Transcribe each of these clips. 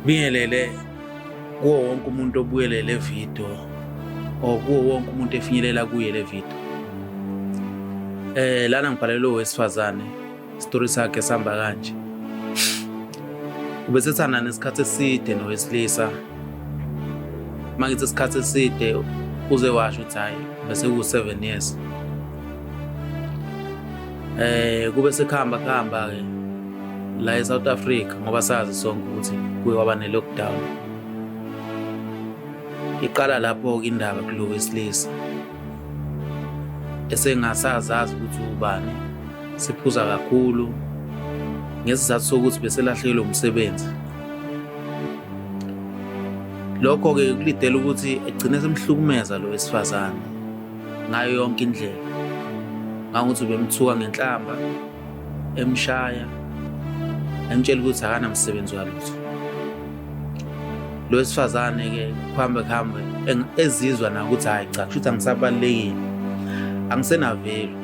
Bingelele kuwo wonke umuntu obuyele le video or kuwo wonke umuntu efinyelela kuye le video. Eh lana ngibhalelwe wesifazane story sakhe sihamba kanje. Ubesethana nesikhathi eside nowesilisa. Mangithi isikhathi eside uze washo ukuthi hayi bese ku 7 years. Eh kube sekuhamba kuhamba ke la eSouth Africa ngoba sazi sonke ukuthi kuye waba ne lockdown. Iqala lapho ke indaba kulo wesilisa. Esengasazazi ukuthi ubani siphuza kakhulu ngesizathu sokuthi beselahlekelwe umsebenzi. Lokho ke kulidela ukuthi egcine semhlukumeza lo wesifazane. ngayo yonke indlela ngangukuthi ubemthuka ngenhlamba emshaya emtshela ukuthi akanamsebenzi walutho lo wesifazane-ke kuhambe kuhambe ezizwa na ukuthi hhayi cha kusho ukuthi angisabalulekile angisenavelu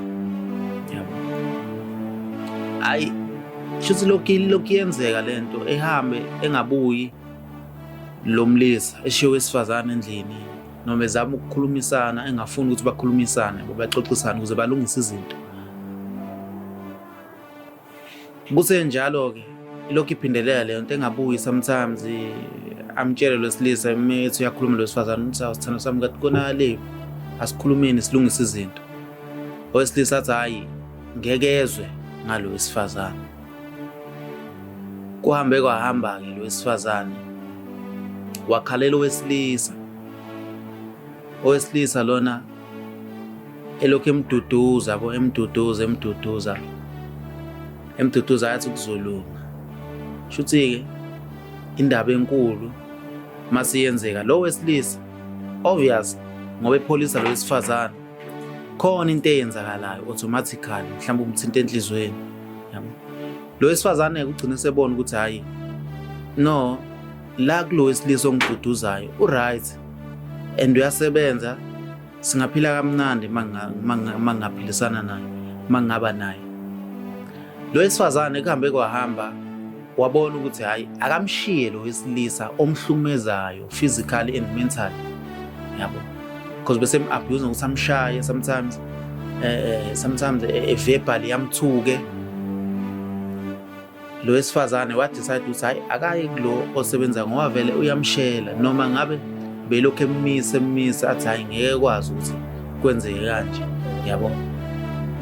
yabo hhayi shuthi lokhu lokhu yenzeka le nto ehambe engabuyi lo mlisa eshiye wesifazane endlini noma ezama ukukhulumisana engafuni ukuthi bakhulumisane babaxoxisane ukuze balungise izinto kusenjalo ke lokhu iphindelela leyo nto engabuyi sometimes amtshele lwesilisa methi uyakhuluma lwesifazane ukuthi awusithando sami kathi kona le asikhulumeni silungise izinto owesilisa athi hhayi ngeke ezwe ngalo wesifazane Kuhambe kwahamba-ke lo wesifazane wakhalela owesilisa. Owesilisa lona elokhu emduduza bo emduduza emduduza emduduza yathi kuzolunga. Shuthi-ke indaba enkulu masiyenzeka lo wesilisa obvious ngoba epholisa lo wesifazane khona into eyenzakalayo automatically mhlawumbe umthinta enhlizweni yabo lo wesifazane ugcine sebona ukuthi hayi no la kulo wesilisa ongiduduzayo uright and uyasebenza singaphila kamnandi mangingaphilisana naye mangingaba naye lo wesifazane kuhambe kwahamba wabona ukuthi hhayi akamshiye lo wesilisa omhlukumezayo physically and mentally yabo because bese mu-abuse ngokuthi amshaye sometimes eh, eh sometimes eh, e-verbal yamthuke lo wesifazane wadecide ukuthi hhayi akayi kulo osebenza ngoba vele uyamshela noma ngabe belokhu emise emise athi hhayi ngeke kwazi ukuthi kwenzeke kanje yabo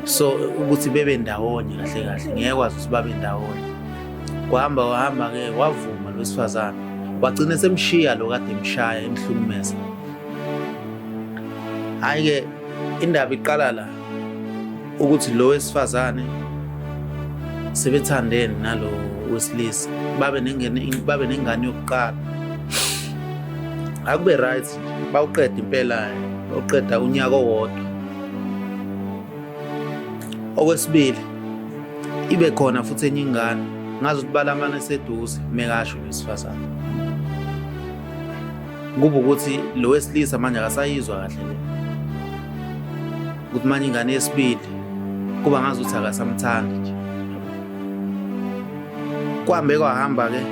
so ukuthi bebe ndawonye kahle kahle ngeke kwazi ukuthi babe ndawonye kwahamba wahamba ke wavuma lo wesifazane wagcina semshiya lo kade emshaya emhlumumeza hayi ke indaba iqala la ukuthi lo wesifazane sebethandene nalo wesilisa babe nengane babe nengane yokuqala akube right bawuqeda impela bawuqeda unyaka owodwa okwesibili ibe khona futhi enye ingane ngazi ukuthi balamane seduze mekasho wesifazane kuba ukuthi lo wesilisa manje akasayizwa kahle le ukuthi manje ingane yesibili kuba ngazi ukuthi akasamthandi nje kuhambe kwahamba-ke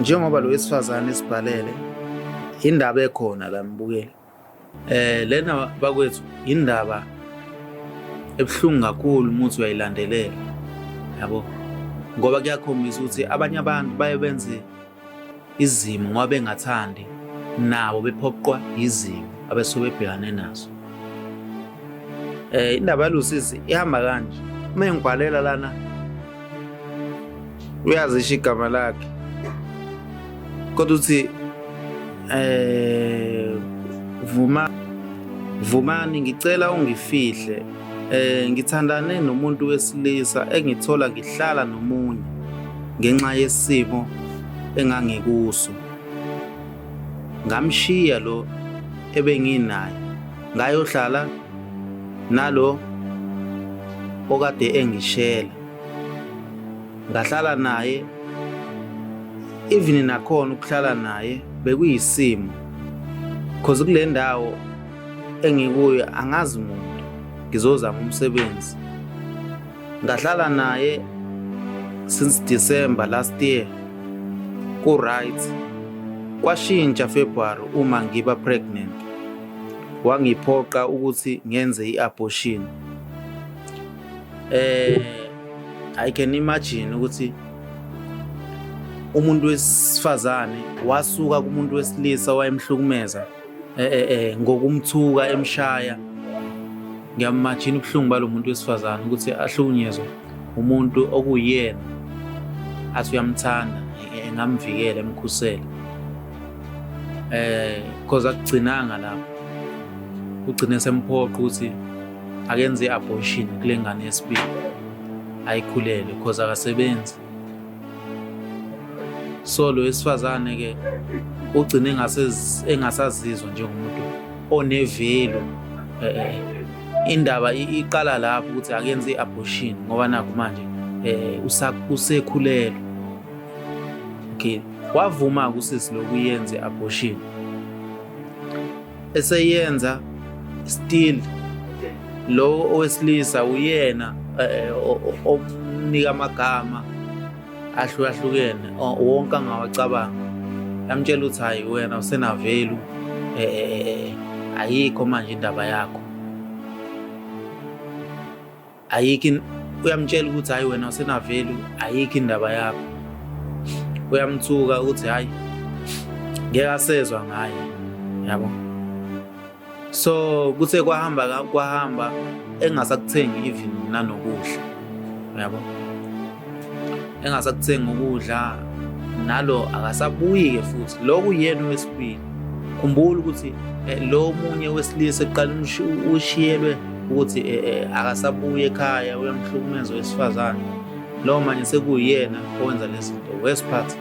njengoba lo wesifazane esibhalele indaba ekhona la mbukeli eh lena bakwethu indaba ebuhlungu kakhulu umuthi uyayilandelela yabo ngoba kuyakhombisa ukuthi abanye abantu baye benze izimo ngoba bengathandi nabo bephoqwa yizimo abesuke bebhekane nazo eh indaba yalusizi ihamba kanje uma engibhalela lana uyazisho igama lakhe kodwa uthi eh vuma vumani ngicela ungifihle eh ngithandane nomuntu wesilisa engithola ngihlala nomunye ngenxa yesimo engangikuso ngamshiya lo ebenginaye ngayohlala nalo okade engishela ngahlala naye even nakhona ukuhlala naye bekuyisimo cause kule ndawo engikuyo angazi muntu ngizozama umsebenzi ngahlala naye since December last year ku right kwashintsha February uma ngiba pregnant wangiphoqa ukuthi ngenze i-abortion eh i can imagine ukuthi umuntu wesifazane wasuka kumuntu wesilisa wayemhlukumeza eh, eh, eh ngokumthuka emshaya ngiyamajina ubuhlungu balomuntu wesifazane ukuthi ahlukunyezwe umuntu okuyena athi uyamthanda engamvikela emkhusele eh because akugcinanga lapho ugcine semphoqa ukuthi akenze i-abortion kule ngane yesibili ayikhulele because akasebenzi so lo wesifazane ke ugcine engasazizwa njengomuntu onevelo eh, eh, indaba iqala lapho ukuthi akenze i-abortion ngoba nakho manje um usekhulelwe okay wavuma kusisi lokuyenza i-abortion eseyenza still lo owesilisa uyena eh, omnika amagama ahlukahlukene wonke angawacabanga yamtshela ukuthi hayi wena usenavelu eh, eh, ayikho manje indaba yakho ayikho in- uyamtshela ukuthi hhayi wena usenavelu ayikho indaba yakho uyamthuka ukuthi hhayi ngeke asezwa ngaye yabo so kuthe kwahamba ka- kwahamba engasakuthengi even nanokudla yabo engasakuthengi ukudla nalo akasabuyi-ke futhi loku uyena owesibili khumbula ukuthi eh, lo munye wesilisa ekuqala ushiyelwe ukuthi eh, eh, akasabuye ekhaya uyamhlukumeza owesifazane lowo manje sekuyena owenza lezi zinto wesiphathi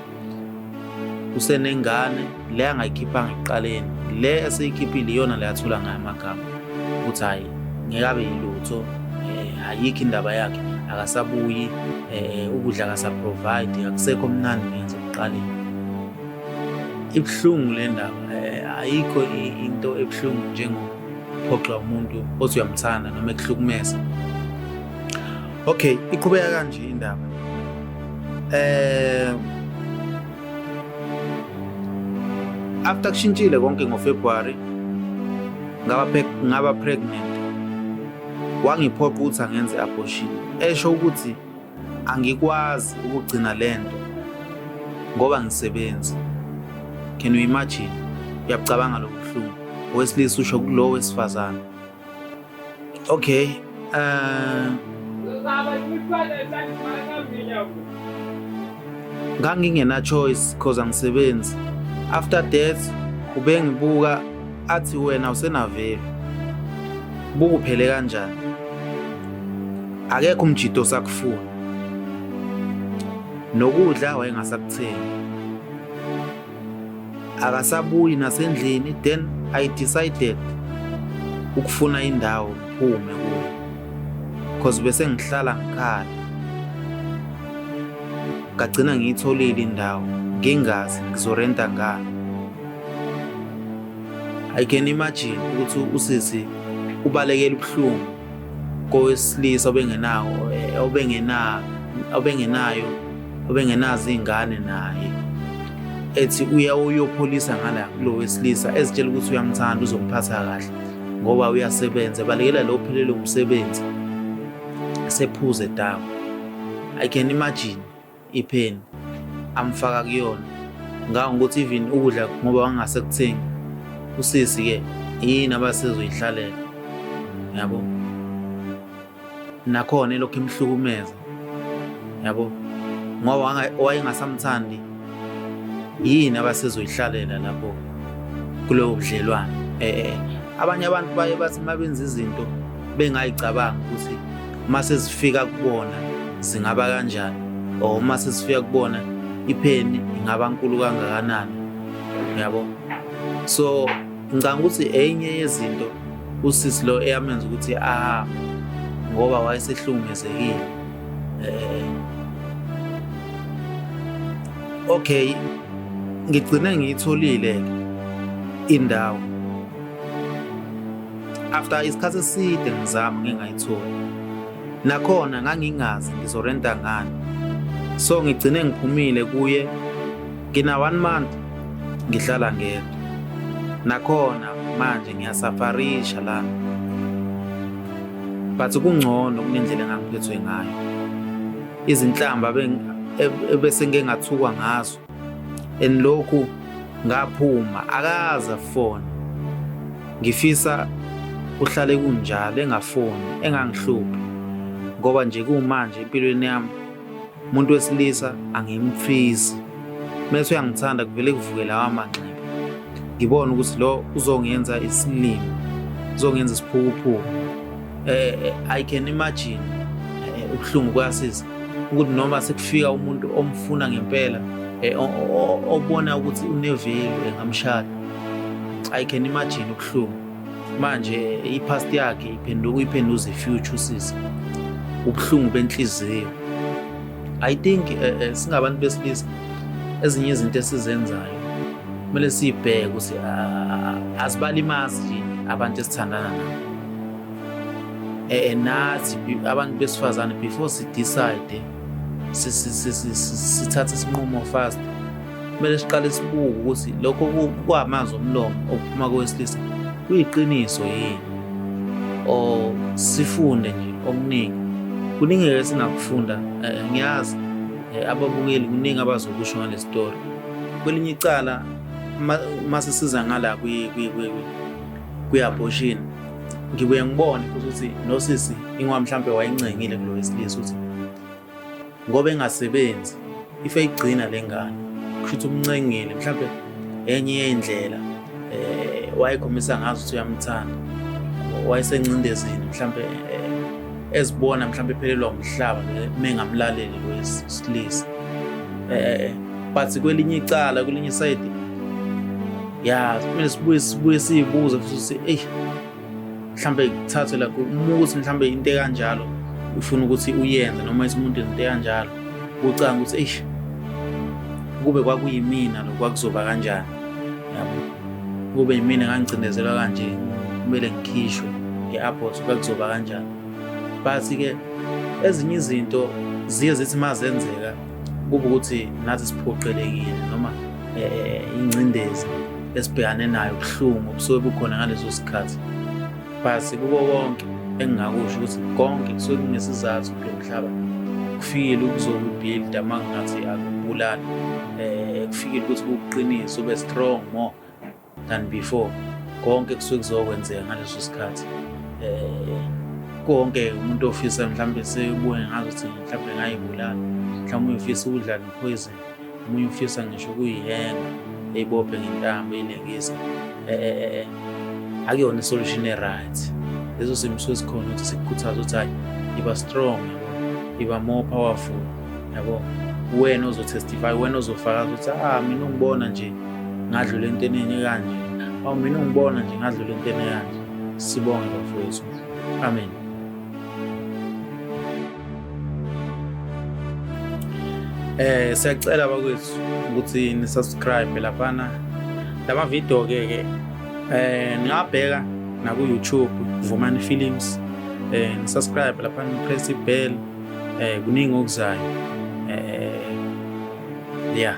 usenengane le angayikhiphanga ekuqaleni le eseyikhiphile iyona le athula ngayo amagama ukuthi hhayi ngeke abe yilutho um ayikho indaba yakhe akasabuyi um ukudla akasaprovide akusekho mnandi ngenza ekuqaleni ibuhlungu le ndaba um ayikho into ebuhlungu njengophoxa umuntu othi uyamthanda noma ekuhlukumeza okay iqhubeka kanje indaba Eh after kushintshile konke ngoFebruary ngaba ngaba pregnant wangiphoqa ukuthi angenze abortion esho ukuthi angikwazi ukugcina lento ngoba ngisebenza can you imagine uyacabanga lobuhlungu owesilisa usho kulowo wesifazane Okay. Uh, ngangingena choice cause angisebenzi after death ubengibuka athi wena usenavelu bukuphele kanjani akekho umjito sakufuna nokudla wayengasakuthengi akasabuyi nasendlini then i decided ukufuna indawo ngiphume kuyo cause bese ngihlala ngikhala ngagcina ngiyitholile indawo ngingazi ngizorenta ngani i can imagine ukuthi usisi ubalekela ubuhlungu kowesilisa obengenawo obengena obengenayo obengenazo izingane naye ethi uya uyopholisa ngala kulo wesilisa ezitshela ukuthi uyamthanda uzomphatha kahle ngoba uyasebenza balekela lo phelele umsebenzi sephuze damu i can imagine ipheni amfaka kuyona nganga ukuthi even ukudla ngoba wangase kuthengi usisi ke yini abasezoyihlalela yabo nakhona elokhu imhlukumeza yabo ngoba wayengasamthandi yini abasezoyihlalela lapho kulowo budlelwane eh, eh abanye abantu baye bathi mabenza izinto bengayicabangi ukuthi uma sezifika kubona zingaba kanjani or uma sezifika kubona ipheni ingaba nkulu kangakanani yabo so ngicanga ukuthi enye yezinto usisi lo eyamenza ukuthi aha ngoba wayesehlukumezekile eh okay ngigcine ngiyitholile indawo After isikhathi eside ngizama ngingayitholi. Nakhona ngangingazi ngizorenta ngani. So ngigcine ngiphumile kuye ngina one month ngihlala ngedwa. Nakhona manje ngiyasafarisha lana. But kungcono kunendlela engangiphethwe ngayo. Izinhlamba ebese ngingathukwa ngazo and lokhu ngaphuma akaza fona ngifisa uhlale kunjalo engafoni engangihluphi ngoba nje kumanje empilweni yami umuntu wesilisa angimfisi mese uyangithanda kuvele kuvuke lawa manxeba ngibona ukuthi lo uzongenza isilimo uzongenza isiphukuphuku eh, eh i can imagine eh, ubuhlungu kuyasiza ukuthi noma sekufika umuntu omfuna ngempela eh, obona ukuthi unevelu engamshada i can imagine ubuhlungu manje i-past yakhe iphenduka uyiphenduza i-future usisi ubuhlungu benhliziyo i think eh, eh, singabantu besilisa ezinye izinto esizenzayo kumele siyibheke ukuthi ah, asibalimazi abantu esithandana nabo eh, eh, nathi abantu besifazane before sidecide sithathe isinqumo fast kumele siqale sibuke ukuthi lokho kwamanzi omlomo okuphuma kowesilisa kuyiqiniso yini or sifunde nje okuningi kuningi ke singakufunda eh, ngiyazi eh, ababukeli kuningi abazokusho ngale story kwelinye icala uma sisiza ngala kwi-abortion ngibuye ngibone futhi ukuthi nosisi ingoba mhlawumbe wayencengile kulo wesilisa ukuthi ngoba engasebenzi ife igcina le ngane kusho ukuthi umncengile mhlawumbe enye yey'ndlela um eh, wayekhombisa ngazo ukuthi uyamthanda wayesencindezini mhlawumbe eh, ezibona mhlawumbe ephelelwa umhlaba mengamlaleli wesilisa eh but kwelinye icala kwelinye side ya kumele sibuye sibuye siyibuze futhi si ey mhlambe kuthathwe la uma ukuthi mhlambe into ekanjalo ufuna ukuthi uyenze noma isimuntu into ekanjalo ucanga ukuthi eish kube kwakuyimina lo kwakuzoba kanjani yabo kube yimina ngangicindezela kanje kumele ngikhishwe nge-airport kwakuzoba kanjani But-ke ezinye izinto ziye zithi uma zenzeka kuba ukuthi nathi siphoqelekile noma eh, ingcindezi esibhekane nayo ubuhlungu obusuke bukhona ngaleso sikhathi but kubo konke engingakusho ukuthi konke kusuke kunesizathu kulo mhlaba kufikile ukuzokubuilda uma ngingathi akubulali um eh, kufikile ukuthi kukuqinise ube strong more than before konke kusuke kuzokwenzeka ngaleso sikhathi eh konke umuntu ofisa mhlawumbe sebuye ngazi ukuthi mhlawumbe ngayibulala mhlawumbe uyofisa ukudlala ipoison umunye ufisa ngisho ukuyihenga eyibophe ngentambo eyilengisa eh, eh, eh, eh. akuyona isolution e-right leso simo suke sikhona ukuthi sikukhuthaza ukuthi hayi iba strong yabo iba more powerful yabo wena ozotestify wena ozofakaza ukuthi ah mina ungibona nje ngadlula enteneni ekanje awu mina ungibona nje ngadlula enteni ekanje sibonge bafowethu amen eh siyacela bakwethu ukuthi ni subscribe laphana lama video ke ke eh ningabheka na ku YouTube Vumani Films eh ni subscribe laphana press bell eh kuningi okuzayo eh yeah